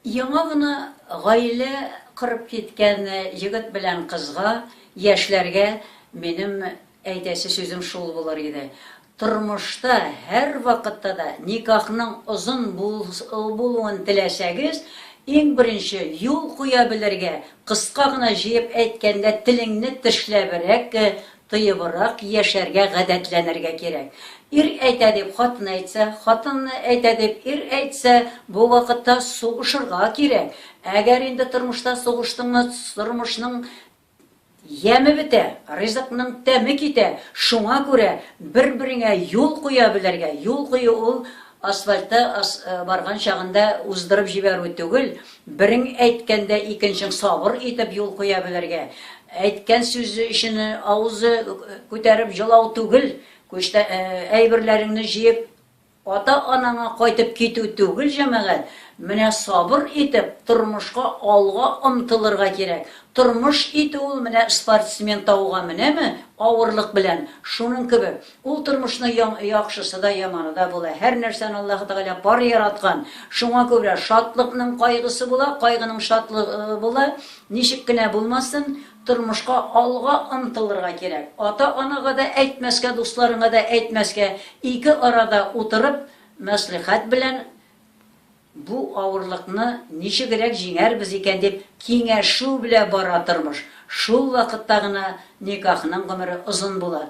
Яңа гына гаилә корып киткән егет белән кызга, яшьләргә минем әйтәсе сүзем шул булыр иде, тормышта һәрвакытта да никахның озын булуын теләсәгез, иң беренче юл куя белергә, кыска гына җыеп әйткәндә, телеңне тешләбрәк Тыебрак яшәргә гадәтләнергә кирәк. Ир әйтә дип хатын әйтсә, хатын әйтә дип ир әйтсә, бу вакытта сугышырга кирәк. Әгәр инде тормышта сугыштыңмы, тормышның яме бетә, ризыкның тәме китә. Шуңа күрә бер-береңә юл куя белергә, юл кую ул Асфальтта ас барган чагында уздырып җибәрү түгел, берең әйткәндә икенчең сабыр итеп юл куя белергә, әйткән сүзе өчен авызы күтәреп җылау түгел, күчтә әйберләреңне җыеп ата-анаңа кайтып китү түгел, җәмәгать, менә сабыр итеп тормышка алга омтылырга кирәк, тормыш итү ул менә спортсмен тауга менәме авырлык белән, шуның кебек, Ул тормышны яң яхшысы да, яманы да була. Һәр нәрсәне Аллаһы Тәгалә пар яраткан. Шуңа күрә шатлыкның кайгысы була, кайгының шатлы ы, була. Ничек кенә булмасын, тормышка алга омтылырга кирәк. Ата-анага да әйтмәскә, дусларыңа да әйтмәскә, ике арада утырып, мәслихәт белән бу авырлыкны ничегрәк җиңәрбез икән дип киңәшү белә бара тормыш. Шул вакытта гына никахның гомере озын була.